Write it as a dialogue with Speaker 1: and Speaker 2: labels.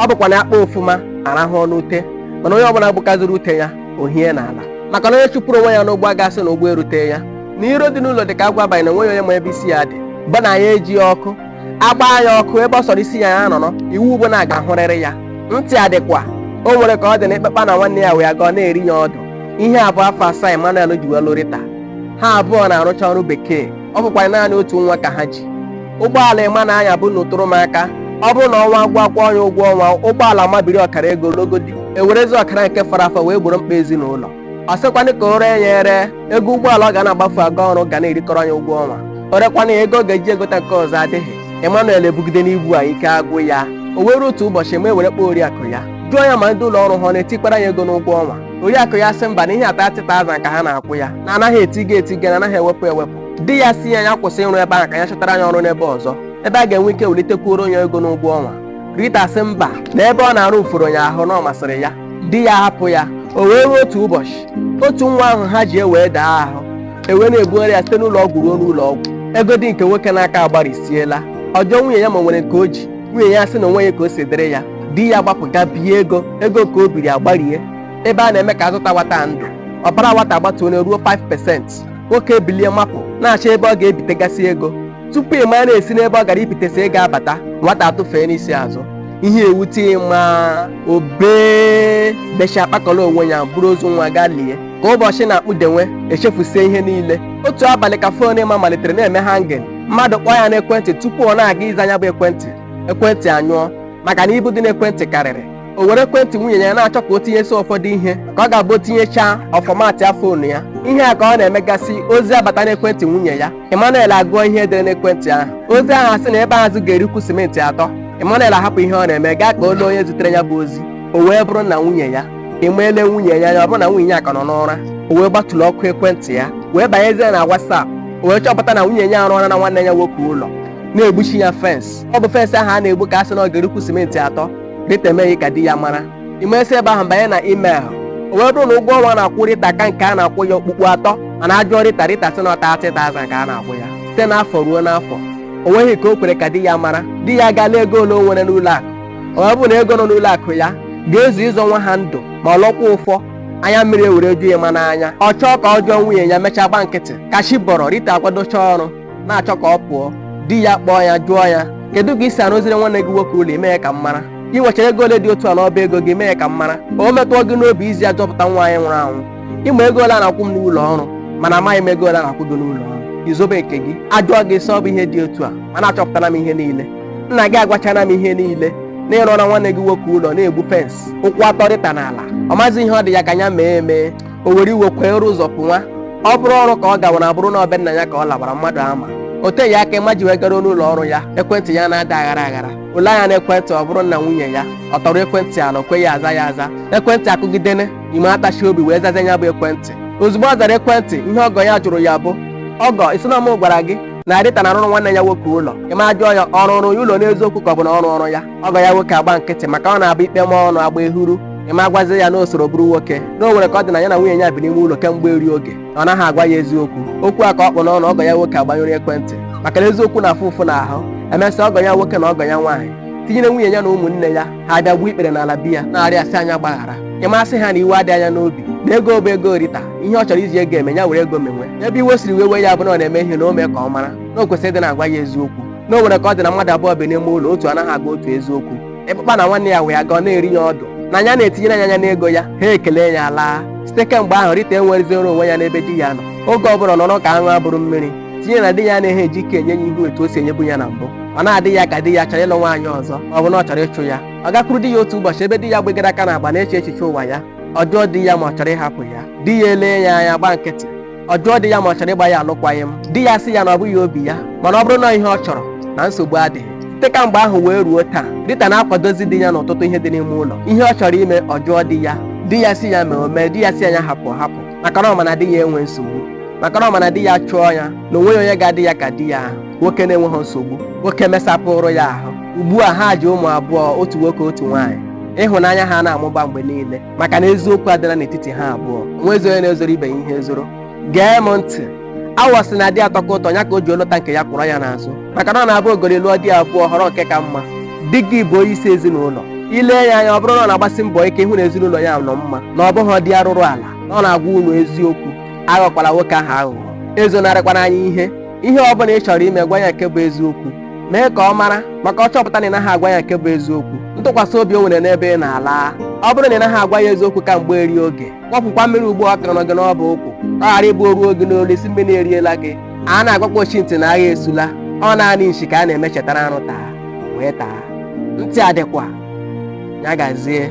Speaker 1: ọ bụkwa na akpa ọfụma arahụọ n'ute mana onye ọbụla gbukaziri ute ya o hie n'ala maka na onye chụpụrụ onwe ya n'ụgbọ agasị na ụgbọ erute ya na iro dị n'ụlọ dị ka agwọ abalị na enweghị onye ma ebe isi ya dị bụ na ya eji ọkụ agbaa ya ọkụ ebe ọ sọrọ isi ya ya nọrọ iwu bụ na a ga-ahụrịrị ya ntị adịkwa o nwere ka ọ dị na ịkpakpa na nwanne ya wee gọọ na-eri ya ọdụ ihe a bụ afọ asaa Emmanuel ji wee lụ Rita ha abụọ na-arụcha ọrụ bekee ọ bụkwa naanị otu nwa ka ha ji ụgbọala Emma na-anya bụ na ụtụrụ m aka ọ bụrụ na ọnwa agwụ akwụọ ya ụgwọ ọnwa ụgbọala mabiri ọkara ego logodi ewerezi ọkara nke fọrọ afọ wee gboro mkpa ezinụlọ ọ sịkwanụ ka o ree ya ere ego ụgbọala ọ ga na-agbafu aga ọrụ ga na-erikọrọ ya ụgwọ ọnwa o rekwanụ ya ego ọ ga-eji egota nke ọzọ adịghị Emmanuel ebugide n'ibu a ike agwụ ya o wee ruo otu ụbọchị Emma ewere kpọọ oriakụ ya jụọ ya ma ndị ụlọ ọrụ ha ọ na-etikwara ya ego n'ụgwọ ọnwa oriakụ ya sị mba na ihe a 30,000 ka ha na-akwụ ya na anaghị etiga etiga na anaghị ewepụ ewepụ di ya sị ya ya kwụsị ịrụ ebe ahụ ka ya chọtara ya ọrụ n'ebe ọzọ ebe a ga-enwe ike welitekwuoro ya ego n'ụgwọ ọnwa Rita sị mba na ebe ọ na-arụ uforo ya ahụ na ọ masịrị ya di ya hapụ ya o wee ruo otu ụbọchị otu nwa ahụ ha ji ewee daa ahụ ewee na-ebugharị ya site n'ụlọ ọgwụ ruo n'ụlọ ọgwụ ego dị nke nwoke n'aka agbarisiela ọ jụọ nwunye ya ma o nwere nke o ji nwunye ya sị na o nweghị ka o si dịrị ya di ya gbapụ gaa bie ego ego ka o biri agbarie ebe a na-eme ka azọta nwata ndụ ọbara nwata agbatuola ruo 5% nwoke ebilie mapụ na-achọ ebe ọ ga-ebitegasị ego tupu Emma na-esi n'ebe ọ gara ibitesi ego abata nwata atụfeenụ isi azụ ihe ewute Emma o bee bechaa kpakọrọ onwe ya buru ozu nwa gaa lie ka ụbọchị na-akpụdenwe echefusie ihe niile otu abalị ka phone Emma malitere na-eme hanging mmadụ kpọọ ya n'ekwentị tupu ọ na-aga ịza ya bụ ekwentị ekwentị anyụọ maka na ibu dị n'ekwentị karịrị o were ekwentị nwunye ya na-achọ ka o tinyesi ụfọdụ ihe ka ọ ga-abụ o tinyechaa ọ formatịa phone ya ihe a ka ọ na-emegasị ozi abata n'ekwentị nwunye ya Emmanuel agụọ ihe edere n'ekwentị ahụ ozi ahụ asị na ebe azụ ga-erikwu simenti atọ Emmanuel ahapụ ihe ọ na-eme gaa ka o lee onye zitere ya bụ ozi o wee bụrụ nna nwunye ya Emma elee nwunye ya ya ọ bụrụ na nwunye ya ka nọ n'ụra o wee gbaturu ọkụ ekwentị ya wee banyezie na WhatsApp o wee chọpụta na nwunye ya arụọlara nwanne ya nwoke ụlọ na-egbuchi ya fensị ọ bụ fensị ahụ a na-egbu ka a sị na ọ ga-erikwu simenti atọ Rita emeghị ka di ya mara Emma esi ebe ahụ banye na email o wee bụrụ na ụgwọ ọnwa a na-akwụ Rita ka nke a na-akwụ ya okpukpu atọ mana ajụọ Rita Rita sị na ọ 30,000 ka a na-akwụ ya site n'afọ ruo n'afọ o nweghị ka o kwere ka di ya mara di ya gaa lee ego ole o nwere n'ụlọ akụ ọ bụ na ego nọ n'ụlọ akụ ya ga-ezu ịzọ nwa ha ndụ ma ọ lọkwa ụfọ anya mmiri ewere ju Emma n'anya ọ chọọ ka ọ jụọ nwunye ya mechaa gbaa nkịtị ka chi bọrọ Rita akwadochaa ọrụ na-achọ ka ọ pụọ di ya kpọọ ya jụọ ya kedu ka i si arụziri nwanne gị nwoke ụlọ i meghị ka m mara ị nwechara ego ole dị otu a n'ọba ego gị i meghị ka m mara ka o metụọ gị n'obi iji ya zọpụta nwa anyị nwụrụ anwụ ị ma ego ole a na-akwụ m n'ụlọ ọrụ mana amaghị m ego ole a na-akwụ gị n'ụlọ ọrụ i zobe nke gị ajụọ gị ị sị ọ bụ ihe dị otu a mana achọpụtala m ihe niile nna gị agwachala m ihe niile na ị rụọra nwanne gị nwoke ụlọ na-egbu fens ụkwụ atọ rita n'ala ọ mazi ihe ọ dị ya ka ya mee emee o were iwe kwee rụ ụzọ pụnwa ọ bụrụ ọrụ ka ọ gawara ọ bụrụ na ọ be nna ya ka ọ lawara mmadụ ama o teghị aka ịma ji wee garuo n'ụlọ ọrụ ya ekwentị ya na-ada aghara aghara o lee anya na ekwentị ọ bụrụ nna nwunye ya ọ tọrọ ekwentị ala o kweghị aza ya aza ekwentị akụgidene ịma atachie obi wee zazie ya bụ ekwentị ozugbo ọ zara ekwentị ihe ọgọ ya jụrụ ya bụ ọgọ ị sị na ọ mụ gwara gị na Rita na-arụrụ nwanne ya nwoke ụlọ ịma ajụọ ya ọ rụụrụ ya ụlọ n'eziokwu ka ọ bụ na ọ rụọrụ ya ọgọ ya nwoke agba nkịtị maka ọ na-abụ ikpe ma ọnụ agba ehuru ịma agwazi ya na o soro bụrụ nwoke na o nwere ka ọ dị na ya na nwunye ya bi n'ime ụlọ kemgbe eri oge na ọ naghị agwa ya eziokwu okwu a ka ọ kpụ n'ọnụ ọgọ ya nwoke agbanyụrụ ekwentị maka na eziokwu na-afụ ụfụ n'ahụ emesịa ọgọ ya nwoke na ọgọ ya nwaanyị tinyere nwunye ya na ụmụnne ya ha abịa gbuo ikpere n'ala bịa na-arịọ ya sị ya gbaghara ịma asị ha na iwe adịghị ya n'obi na ego bụ ego rita ihe ọ chọrọ iji ego eme ya were ego menwe ebe iwe siri wewe ya bụ na ọ na-eme ihe na o mee ka ọ mara na o kwesịrị ịdị na-agwa ya eziokwu na o nwere ka ọ dị na mmadụ abụọ bi n'ime ụlọ otu anaghị agwa otu eziokwu ịkpụkpa na nwanne ya wee aga ọ na-eri ya ọdụ na ya na-etinyere ya anya n'ego ya ha ekele ya laa site kemgbe ahụ rita enwerezioro onwe ya n'ebe di ya nọ oge ọ bụla ọ nọrọ ka aṅụ a bụrụ mmiri tinye na di ya anaghị eji ike enye ya ihu etu o si enyebu ya na mbụ ọ na-adị ya ka di ya chọrọ ịlụ nwaanyị ọzọ ma ọ bụ na ọ chọrọ ịchụ ya ọ gakwuru di ya otu ụbọchị ebe di ya gbegara aka n'agba na-eche echiche ụwa ya ọ jụọ di ya ma ọ chọrọ ịhapụ ya di ya elee ya anya gba nkịtị ọ jụọ di ya ma ọ chọrọ ịgba ya alụkwaghịm di ya sị ya na ọ bụghị obi ya mana ọ bụrụ na ọ ihe ọ chọrọ na nsogbu adịghị site ka mgbe ahụ wee ruo taa Rita na-akwadozi di ya n'ọtụtụ ihe dị n'ime ụlọ ihe ọ chọrọ ime ọ jụọ di ya di ya sị ya mee o mee di ya sị ya hapụ ọ hapụ maka na ọ ma na di ya enwe nsogbu maka na ọ ma na di ya chụọ ya na o nweghị onye ga-adị ya ka di ya ahụ nwoke na-enweghị nsogbu nwoke mesapụrụ ya ahụ ugbu a ha ji ụmụ abụọ otu nwoke otu nwaanyị ịhụnanya ha na-amụba mgbe niile maka na eziokwu adịla n'etiti ha abụọ o nwezi onye na-ezoro ibe ya ihe ezoro gee m ntị awọ sị na di atọka ụtọ ya ka o ji ọ lụta nke ya kwọrọ ya n'azụ maka na ọ na-abụ ogori lụọ di abụọ ọ họrọ nke ka mma di gị bụ onye isi ezinụlọ i lee ya anya ọ bụrụ na ọ na-agbasi mbọ ike ịhụ na ezinụlọ ya nọ mma na ọ bụghị di arụrụ ala na ọ na-agwa unu eziokwu aghọkwala nwoke ahụ aghụghọ ezonarịkwana ya ihe ihe ọ bụla ị chọrọ ime gwa ya nke bụ eziokwu mee ka ọ mara maka ọ chọpụta na ị naghị agwa ya nke bụ eziokwu ntụkwasị obi o nwere n'ebe ị nọ alaa ọ bụrụ na ị naghị agwa ya eziokwu ka mgbe eri oge kwọpụkwa mmiri ugbu ọ ka nọ gị n'ọbụ ụkwụ ọ ghara ịbụ o ruo gị n'olu ị sị mmiri eriela gị a na-agwakwa ochi ntị na agha esula ọ naanị nshi ka a na-eme chetara arụ taa wee taa ntị adịkwa ya gazie